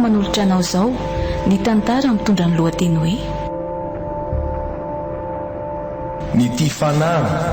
manolotra anao izao ny tantara mitondra ny lohateny hoe ny tia fanahy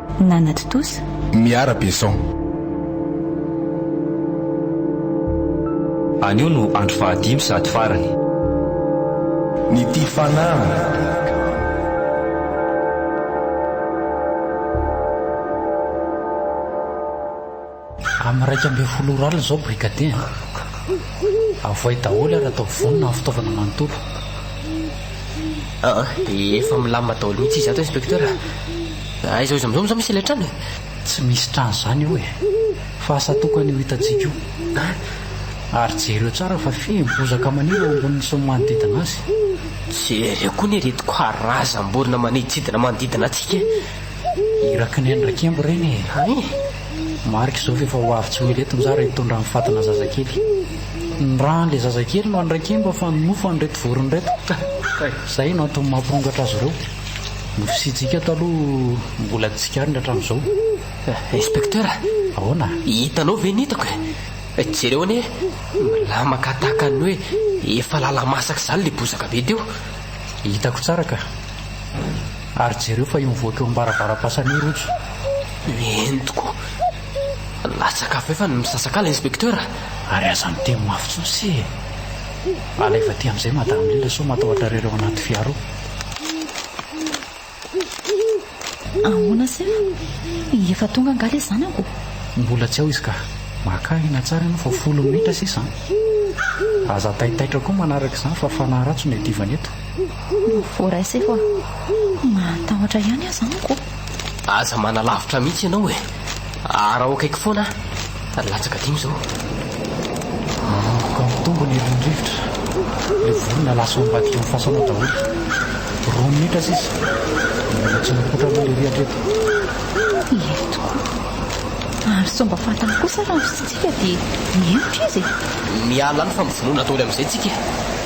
Nanatontosa. Miara Besson. Anio no andro fahadimy sady farany. Ny tia fanahy. Amin'ny iraika ambin'ny folo ora alina izao Brigadier an! Avohay daholo ary atao vonona ny fitaovana manontolo. Aa, dia efa milamina daholo mihitsy izy ato Inspecteur a! Aiza hoiza amin'izao moa izany misy ilay trano e? Tsy misy trano izany eo e! Fa asa tokana io hitantsika io. Ary jereo tsara fa feno bozaka maniry eo amboniny sy ny manodidina azy. Jereo koa ny ireto karazam-borona maniditsidina manodidina antsika e! Iraky ny any Rakembo ireny e! Hay! Marika izao fa efa ho avy tsy ho ela eto ny zara hitondra ny fatina zazakely. Ny ra an'ilay zazakely no any Rakembo fa ny nofo an'ireto vorona ireto. Kay! Izay no antony mampirongatra azy ireo. Ny fisiantsika eto aloha mbola tsy tsikariny hatramin'izao. Inspecteur! Ahoana? Hitanao ve ny hitako e? Jereo anie, milamaka tahaka ny hoe efa lala-masaka izany ilay bozaka be teo. Hitako tsara ka. Ary jereo fa io mivoaka eo ambaravaram-pasana io rojo. Ny entiko. Latsaka avy eo fa ny misasakala inspecteur. Ary aza miteny mafy tsony se e. Alaivo aty amizay madame Lila sao matahotra rereo anaty fiara ao. Ahoana se fa efa tonga angaha le zanako? Mbola tsy ao izy ka. Maka aina tsara ianao fa folo minitra sisa an. Aza taitaitra koa manaraka izany fa fanahy ratsy no iadivany eto. Voaraiseko a! Mahatahotra ihany aza amiko. Aza manalavitra mihitsy ianao e! Araho akaiky foana aho. Latsaka dimy izao. Manomboka mitombo ny herin'ny rivotra. Ilay vorona lasa ao ambadika amin'ny fasana ao daholo. Roa minitra sisa. Mbola tsy mipoitra aloha ilay rihatra eto. Ela tokoa. Ary sao mba fantany kosa raha ny fitsitsiaka dia mihemotra izy e! Miala any fa mivonoina daholo amin'izay tsika e!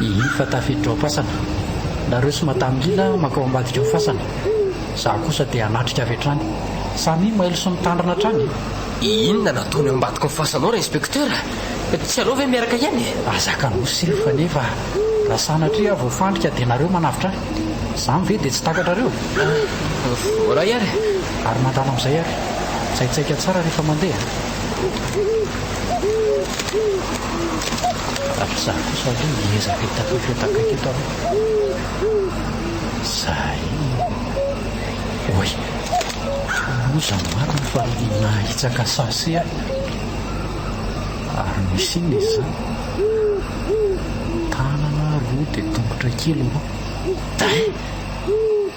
Hihi fa tafiditra ao fasana nareo sy madame Lina mankao ambadika ao fasana, za kosa dia hanatrika avy hatrany. Samia mailo sy mitandrina hatrany e! Inona no ataony ao ambadika ao fasana ao r'inspecteur? Tsy aleo ve miaraka ihany e? Aza kanosy ry Fane fa raha sanatria aho voafandrika dia nareo manavotra ahy. Zany ve dia tsy takatrareo? Voaray ary. Ary mandalo amizay ary. Tsaitsaika tsara rehefa mandeha. Ary za kosa aloha hiezaka hitatatra eto akaiky eto aloha. Zay. Oay. Loza marina fa nahitsaka sase aho. Ary misy inona izy zany? Tanana roa dia tongotra kely roa. Dain!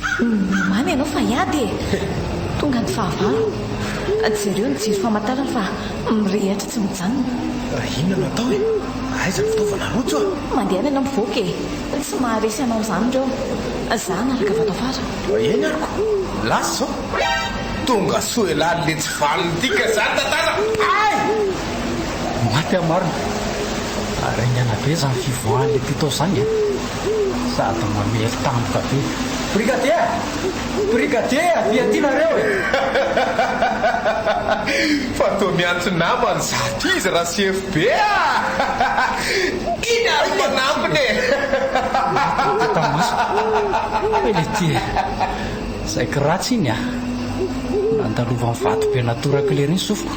Mihamamy ianao fa hiady e! Tonga ny fahavalo. Jereo ny jiro famantarana fa mirehitra tsy mijanona. Inona no atao e? Aiza ny fitaovana rojo a? Mandehana ianao mivoaka e! Tsy maharesy anao izany ireo. Za hanaraka avy ato afara. Eny aroko, lasa izao. Tonga soa elah le tsy vanona ity ka izany tantara ay! Maty amarina. Haringana be izany fivoahan'ilay mpitao izany e! Sady mamery tampoka be. Brigadier a! Brigadier a! Dia ty nareo e! Fa toa miantso namany izato izy ra CFB a! Iny ary no manampina e! Nahitako tamaso. Fa ilay ty e! Saiky ratsy iny a! Nandalovan'ny vatobe natorak'lery iny sofiko.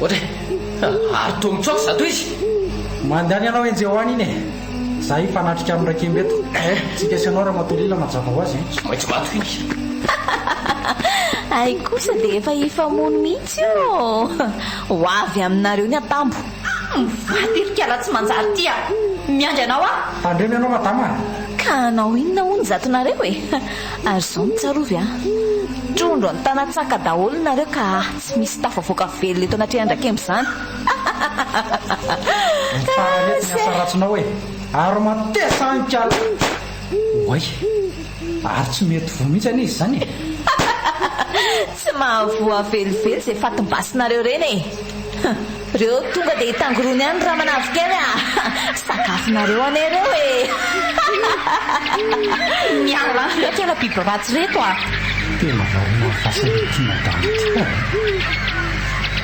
Ohatra e! Ary toa mitsoaka za toa izy! Mandehana ianao enjehy ho any iny e! Za hifanatrika amin'i Rakemba eto. Tsika sy anao Ramatoa Lila mazava ho azy e! Tsy maintsy maty hoy izy! Ay kosa dia efa hifamono mihitsy ô! Ho avy aminareo ny atambo! Mivady ery kala tsy manjary ity a! Miandry anao aho! Tandremo ianao Madama a! Ka hanao inona hono zatonareo e! Ary izao no tsarovy a! Trondro an-tanatsaka daholo nareo ka a! Tsy misy tafavoaka velona eto anatrehan drakemba izany Mifara letsy ny asa ratsinao e! Ary matesa any ka! Oay! Ary tsy mety voa mihitsy anie izy izany e! Tsy mahavoa velively izay fatim-basinareo ireny e! Reo tonga dia hitangorony any ramanavikely a! sakafonareo anie reo e! Miala any reo kela biby ratsy reto a! Tena variana ny fasana ity madama ity ka e!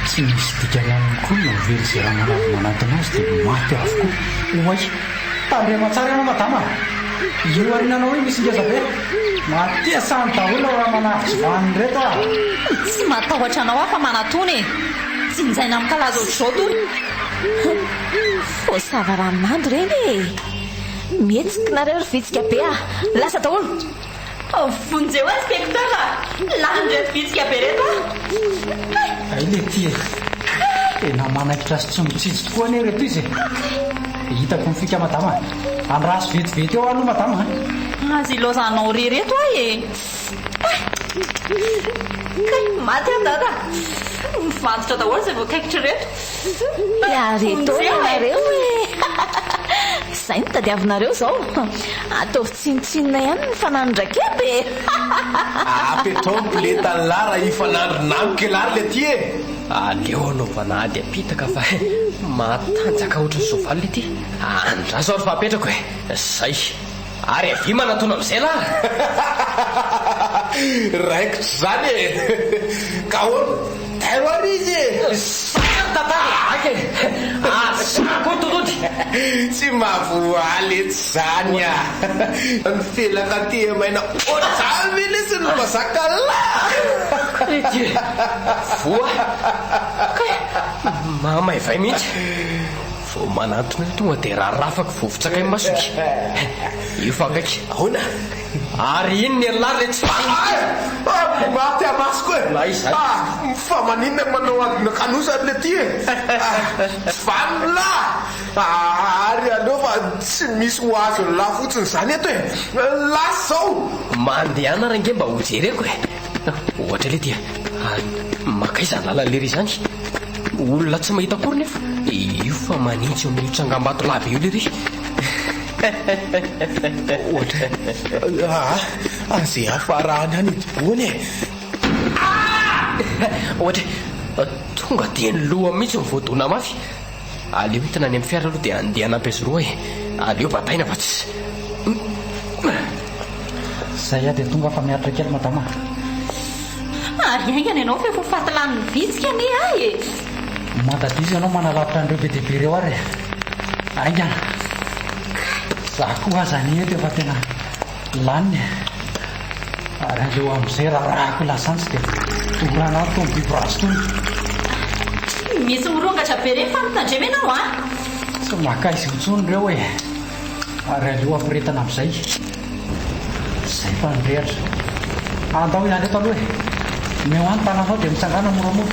Tsy misy dikany aminy koa ny mahavelo izay ramanavy manantona azy dia maty avokoa. Oay! Tandremo tsara ianao madama a! Io arinanao io misy ngeza be! Matesany daholo ry ramanavy tsy vanony reto a! Tsy matahotra anao aho fa manatona e! Tsinjaina mikalaza ohatr'izao tony. Voasava ranonando ireny e! Mihetsika nareo ry vitsika be a! Lasa daholo! Vonjeo azy Tektor a! Lanin'ireto vitsika be ireto aho! Hay le ty e! Tena manaikitra sy tsy mitsitsy tokoa anie ireto izy e! Hitako ny fika madama a! Andraso vetivety eo aho aloha madama a! Aza ilaozanao re ireto aho e! Kay, maty aho dada. Mivantotra daholo izay voakaikitra ireto. Miary etoana ianareo e. Izay no tadiavinareo izao. Ataovy tsinontsinona ihany ny fananondrakety e. Apetraho ny biletan'i Lara hifanandrina amiko e Lara le ty e. Aleo anaovana ady apitaka fa matanjaka ohatran'ny soavaly le ty. Andraso ary fa apetrako e. Zay. Ary avia manatona amizay lah raikitra izany e! Ka ahoana? Tairo ary izy e! Zaka ny tantara e! Zaka e! Ary zaka koa ny tolody! Tsy mahavoaly etsy izany a! Ny felaka tia maina ohatr'izany ve lesy no mahazaka lah! Ry Dieu! Voa! Kay! Mahamaivay mihitsy! Vao manantona io tonga dia rarafako vovotsaka imasoko. Efa akaiky. Ahoana? Ary iny ny an'la ilay tsy valiny. Ay! Maty amasoko e! Na izany aza. Fa maninona no manao adona kanosa ry Letty e? Tsy valiny la! Ary aleo fa tsy misy ho azon'la fotsiny izany eto e! Lasa izao! Mandehana ary ange mba hojereko e! Ohatra ilay dia makaiza ny lalana lery izany? Olona tsy mahita akory nefa io fa manitsy eo amin'io tsangambato lava io lery. Ohatra. Ah, aze afarahany any idiboany e. Ah! Ohatra. Tonga dia ny loha mihitsy no voadona mafy. Aleo entina any amin'ny fiara aloha dia handeha hanampy azy roa e. Aleo bataina fa tsy. Zay aho dia tonga afa miaritra kely madama a. Ary haingana ianao fa efa ho faty lanin'ny vitsika anie ahy e. Mandadisa ianao manalavitra an'ireo be dia be ireo ary e. Haingana. Kay. Za koa aza anie eto efa tena. Lany e! Ary aleo amin'izay rarahako lasantsy dia dorana ato tony biborazy tony. Misy mirongatra be reny fa mitandrema ianao a! Tsy makaiza eo tsony ireo e! Ary aleo ampiretana amin'izay. Zay fa nirehatra. Andao hiala eto aloha e! Omeo ahy ny tananao dia mitsangàna moramora.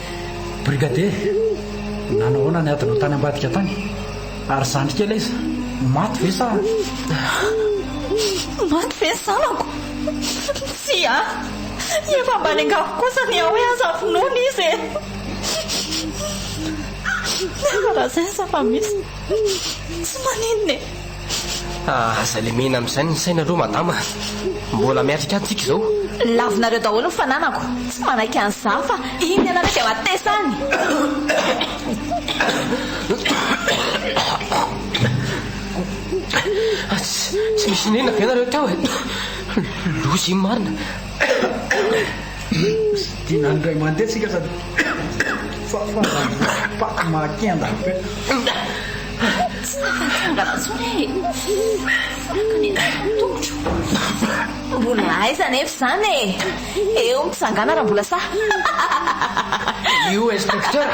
Brigadier, nanahoana ny adinao tany ambadika tany? Ary zandry kely aiza? Maty ve sa? Maty ve ny zanako? Tsia, efa mba niangavy kosa ny ahy hoe aza vonoina izy e! Raha izay aza fa misy, tsy maninona e! Ah, aza lemena amin'izay ny saina aloha madama a! Mbola miatrika any tsika izao. Lavinareo daholo ny fananako, tsy manaiky an'i Zaha fa iny ianareo dia matesa any. Ah, tsy tsy misy inona ve nareo tao e? Loza iny marina. Dinany indray mandeha tsika sady fa fa paty mahakenda. Tsy nahatsangana intsony aho e! Volanako anie ny tongotro. Mbola aiza anefa izany e! Eo ny fitsangana raha mbola sahy. Io inspecteur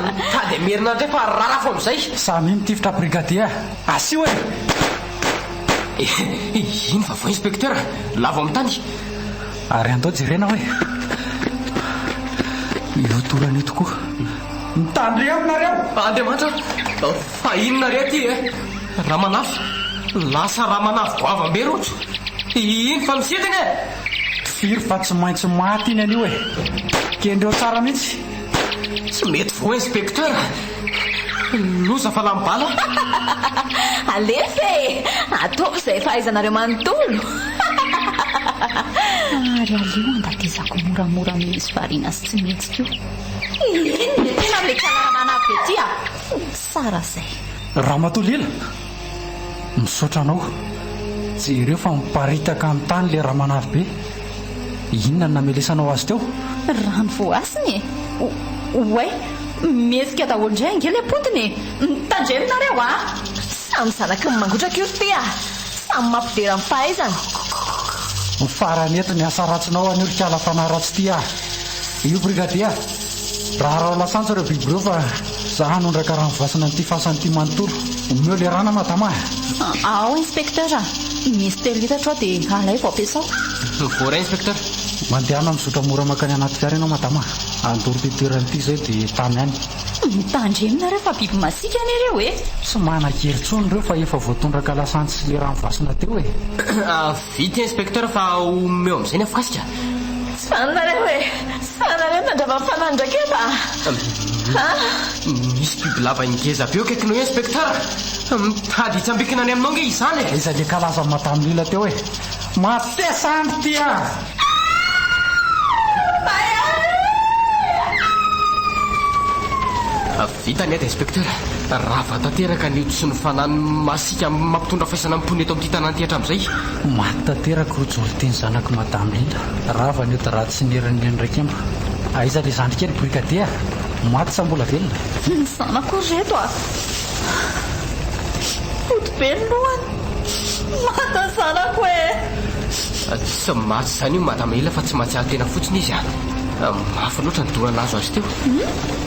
mitady hamerina indray fa rarafo amin'izay. Samia mitifitra brigadier a! Asio e! Iny vaovao inspecteur! Lavo amin'ny tany! Ary andao jerena hoe ireo torany eto koa. Mitandremo nareo! Andriamanitra a! Fa inona re aty e? Ramanafy, lasa ramanavy goavam be rojo! Iny fa misidina e! Firy fa tsy maintsy maty iny anio e! Kendreo tsara mihitsy! Tsy mety voa inspecteur! Loza fa lany bala. Alefa e! Ataovy izay fahaizanareo manontolo. Ary aleo andatesako moramora noho izy variana sy tsy mihetsika io. Inona e tena amin'ilay Tsanara Manavy be ity a! Tsara izay. Ramatoa Lila! Misaotra anao. Jereo fa miparitaka amin'ny tany ilay ramanavy be. Inona no namelesanao azy teo? Rano voasiny e! Oay! Mihetsika daholo indray ange ilay potiny e! Mitandremo nareo a! Samy zanaky ny mangotraka io ry ty a! Samy mampidera ny fahaizany. Ho farany eto ny asa ratsinao anio ry kala fanahy ratsy ty a! Io Brigadia! Raharao lasantsy ireo biby ireo fa za hanondraka rano voasana an'ity fasana ity manontolo. Omeo le rano a madama a! Ao inspecteur a! Misy telo litatra ao dia alaivo ampiasao. Voaray inspecteur. Mandehana mizotra mora mankany anaty fiara ianao madama a! Andoro ity toerana ity izay dia tamy any. Mitandremo nareo fa biby masiaka anie ireo e! Tsy manan-kery intsony ireo fa efa voatondraka lasantsy sy le rano voasana teo e! Vita inspecteur fa omeo amin'izay ny afokasika. Sanareo e! Sanareo nandrava ny fanahy ny raketa a! Misy biby lava ngeza be eo akaikinao eo inspecteur! Mitady hitsambikina any aminao nge izany e! Iza le kalazan'i madame Lila teo e! Matesa andry ty a! Vita ny ady Inspecteur, rava tanteraka ny ody sy ny fanan'ny masika mampitondra faisana amin'ny mponina eto amin'ity tanàna ity hatramin'izay. Maty tanteraka Rojolity ny zanak'i Madame Linda, rava ny ody raha tsy nerin'ny neny raikemba. Aiza ilay zandry kely Brigadier a? Maty sa mbola velona? Ny zanako ry reto a! Ody be ny lohany, maty ny zanako e! Tsy maty izany io Madame Linda fa tsy mahatsiaro tena fotsiny izy a! Mafy loatra ny dora nahazo azy teo.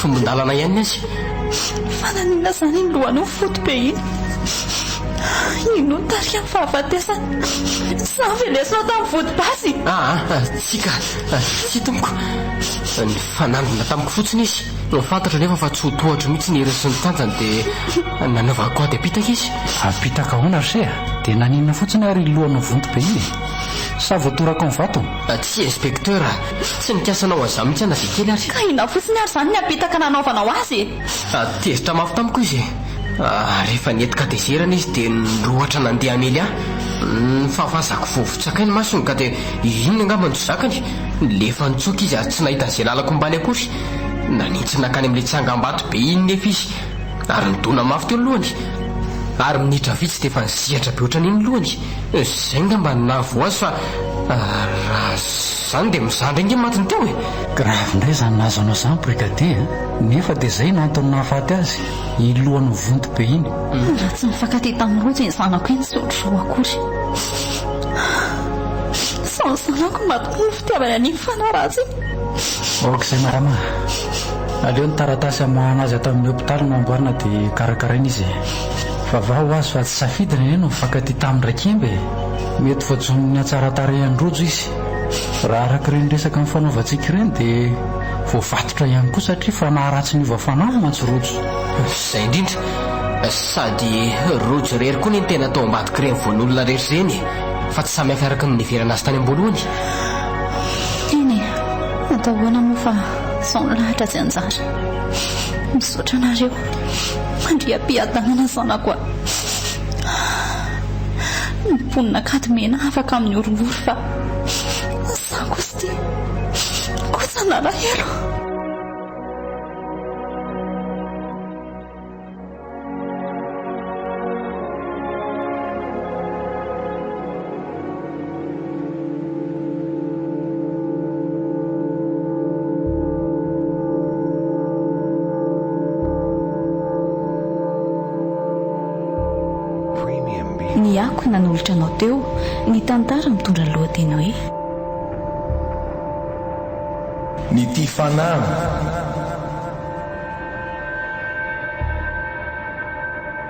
Tombon-dalana ihany aza e! Fa naninona izany iny lohanao fotibe iny? Iny no nitarihan'ny fahafatesana. Izaho ve lesinao tamin'ny vodi-basy? Aa, tsia ka! Tsia tompoko. Nifanandrina tamiko fotsiny izy. Fantatro anefa fa tsy ho tohatro mihitsy ny heriny sy ny tanjany dia nanaovako ady apitaka izy. Apitaka ahoana re? Dia naninona fotsiny ary iny lohanao vonto be iny e? Sa voatorakao ny vato? Tsia inspecteur a! Tsy nikasa anao an'izany mihitsy aho na dia kely ary. Ka inona fotsiny ary izany ny apetaka nanaovanao azy e? Sady tezitra mafy tamiko izy e! Rehefa nety kadezerana izy dia nirohotra nandeha hamely ahy. Ny fahavazako vao votsakay ny masony ka dia iny angamba no tsy zakany. Nilefa nitsoaka izy ary tsy nahita an'izay lalako ombany akory. Nanintsiny nankany amin'ilay tsangambato be iny nefa izy ary nidona mafy teo ny lohany. Ary minitra vitsy dia efa nizihatra be ohatran'iny ny lohany. Izay ngamba no nahavoa azy fa raha izany dia mizandry ange matiny teo e! Grave indray izany nahazo anao izany Brigadier a! Nefa dia izay no antony nahafaty azy, iny lohany mivonto be iny. Raha tsy nifankatia tamin'i Rojo iny zanako iny tsy ohatr'izao akory. Sao ny zanako no mahatonga ny fitiavany an'iny fanahy ratsy iny. Ok izay marama a! Aleo ny taratasy hamoahana azy ato amin'ny hopitaly no amboarina dia karakaraina izy e! Vava ho azy fa tsy safidy rene no mifankatia tamin'i Rakemba e! Mety voajonin'ny hatsaran-tarehan'i Rojo izy. Raha araka ireny resaka nifanaovantsika ireny dia voavatotra ihany koa satria fanaharatsy niova fanahy mantsy Rojo. Izay indrindra, sady Rojo irery koa anie no tena tao ambadik'ireny voan'olona rehetra ireny e! Fa tsy samihafa araka ny niheverana azy tany am-boalohany. Eny e! Atao ahoana moa fa izao ny lahatra tsy anjara. Misaotra anareo. Mandria am-piadanana zanako a! Ny mponin'Ankadimena afaka amin'ny horohoro fa izaho kosa ity kosa nalahelo. nanolotra anao teo ny tantara mitondra lohateny hoe ny tia fanahy